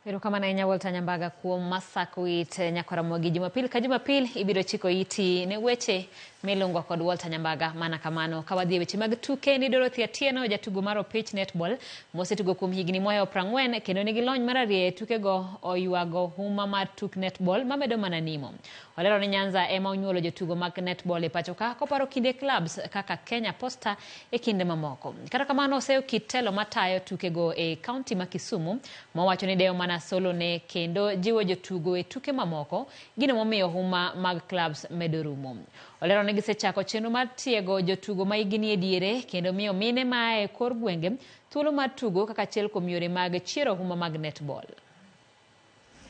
Erokamano ahinya Walter Nyambaga kuom masako it eh, nyakoramogi. Jumapil ka jumapil ibiro chiko iti ne weche milungo kod Walter Nyambaga. Mana kamano, ka wadhi e weche mag tuke ni Dorothy Atieno, jatugo mar opich netball mosetugo kuom higni mohewo prang'wen kendo nigi lony mararieya e tukego oywago huma mar tuk netball mamedo mana nimo. Olero ni Nyanza ema onyuolo jotugo mag netball e pachoka koparo kinde clubs kaka Kenya Posta e kinde mamoko. Kata kamano oseyo kit telo matayo tukego e kaunti ma Kisumu mowacho ni dewo mana solone kendo jiwo jotugo e tuke mamoko gino momiyo huma mag clubs medo rumo. Olero ni gisechako chenro mar tiego jotugo ma higi nie diere kendo miyo mine ma a e kor gwenge thuolo mar tugo kaka achiel kuom yore mag chiero huma mag netball.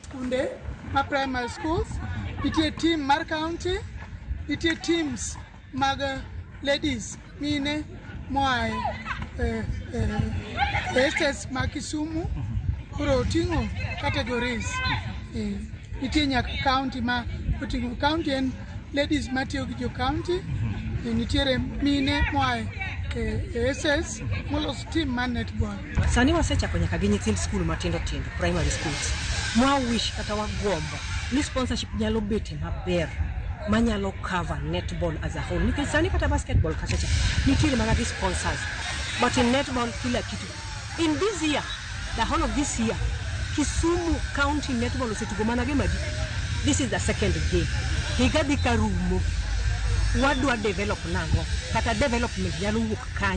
Skunde ma primary schools, nitie team mar county, nitie teams mag eh, ladies mine moa e eh, eh, estates ma Kisumu koro oting'o categories. Eh, Nitie nyaka county ma oting'o county en Ladies matiyo gi jo county e nitiere mine moa e e SS molos team mar netball. Sani wasechako nyaka gi nyithind skul matindo tindo, primary schools. Mwa wish kata wagombo ni sponsorship nyalo bete maber manyalo cover netball as a whole nikech sani kata basketball kachacha nitiere mana gi sponsors but in netball kila kitu In this year, the whole of this year, Kisumu County Netball osetugo mana game adi? This is the second game. Higa dhi ka rumo. Wadwa develop nang'o? Kata development nyalo wuok kanye?